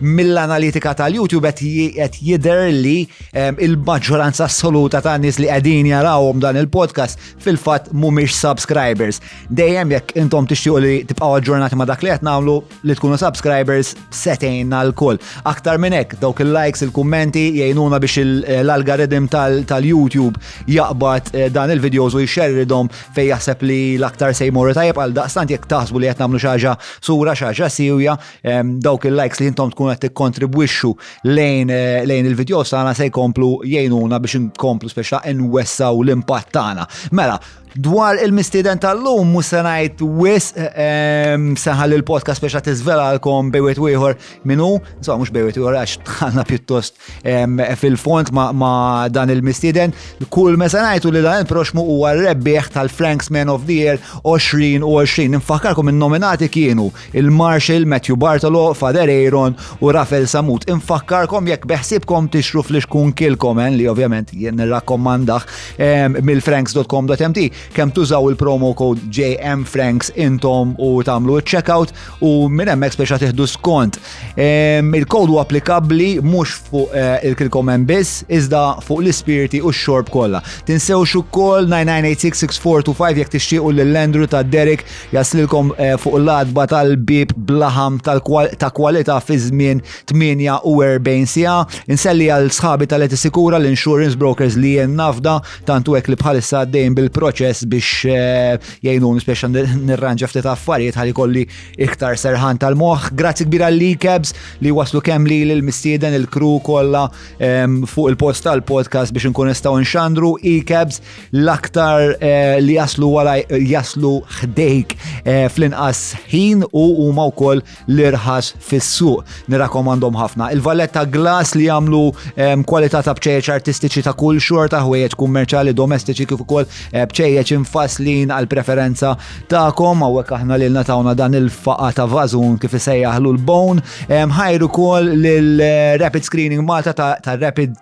mill-analitika tal-YouTube qed jidher li ehm, il-maġġoranza assoluta ta' nies li qegħdin jarawhom dan il-podcast fil-fatt mhumiex subscribers. Dejjem jekk intom tixtiequ li tibqgħu aġġornati ma' dak li qed nagħmlu li tkunu subscribers setejna l-kull. Aktar minn hekk dawk il-likes, il-kummenti jgħinuna biex eh, l-algoritm tal-YouTube jaqbad eh, dan il-videos u jxerridhom fej jaħseb li l-aktar se jmorru tajjeb għal daqstant jekk taħsbu li qed nagħmlu xi ħaġa sura xi ħaġa siwja dawk il-likes li jintom tkun qed tikkontribwixxu lejn eh, lejn il-video tagħna se jkomplu jgħinuna biex inkomplu speċa nwessaw l-impatt tagħna. Mela, Dwar il-mistiden tal-lum, musenajt wis, seħal il-podcast biex għat izvela għalkom bejwet wieħor minu, so mux bejwet wieħor għax tħanna pjuttost fil-font ma dan il-mistiden. Kull mesenajtu li dan il-proxmu u għal-rebbieħ tal-Franks Man of the Year 2020. Nfakarkom il-nominati kienu Il-Marshal Matthew Bartolo, Father Aaron u Rafael Samut infakkarkom jekk beħsibkom tixru flix kun kilkomen li ovvjament jien nirrakkomandah ehm, mill-franks.com.mt kemm tużaw il-promo code JM Franks intom u tagħmlu ċ-checkout u minn hemmhekk speċa tieħdu skont. Ehm, il-kod huwa applikabbli mhux fuq eh, il-kilkomen biss iżda fuq l-ispirti u x-xorb kollha. Tinsewx ukoll 9986 6425 jekk tixtiequ lill-Andrew ta' Derek Jaslilkom eh, fuq l-adba tal-bib blaħam ta' kwalità fi żmien 48 sija. Inselli għal sħabi tal-Eti Sikura l-insurance brokers li jen nafda tantu hekk li bħalissa għaddejn bil-proċess biex eh, jgħinun biex nirranġa ftit affarijiet ħalli kolli iktar serħan tal-moħħ. Grazzi kbira li kebs li waslu kemm li l-mistieden il-kru kollha ehm, fuq il-post tal-podcast biex nkun nistgħu nxandru i kebs l-aktar eh, li jaslu wara jaslu ħdejk eh, fl-inqas ħin u huma wkoll l-irħas fis-suq. Nirakomandhom ħafna. Il-valletta glass li jagħmlu ehm, kwalità ta' bċejjeċ artistiċi ta' kull xorta ħwejjeġ kummerċali domestiċi kif ukoll eh, bċejjeċ infaslin għal preferenza tagħkom hawnhekk aħna lilna tawna dan il-faqa ta' vażun kif isejjaħlu l-bone. Ehm, ħajru wkoll lil Rapid Screening Malta ta' Rapid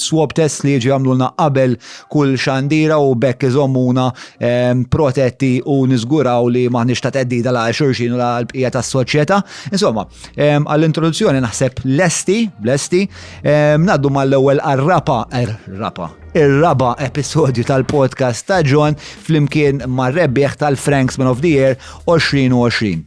Swab Test li jiġi jagħmlulna qabel kull xandira u bekk iżommuna ehm, protetti u niżguraw li maħniex ta' teddida la' xurxin u la' l-bqija tas soċjetà Insomma, ehm, għall-introduzzjoni naħseb lesti, lesti, ehm, naddu mal-ewwel għarrapa, er, rapa, ir-raba episodju tal-podcast ta' John flimkien mar-rebbieħ tal-Franks Man of the Year 2020.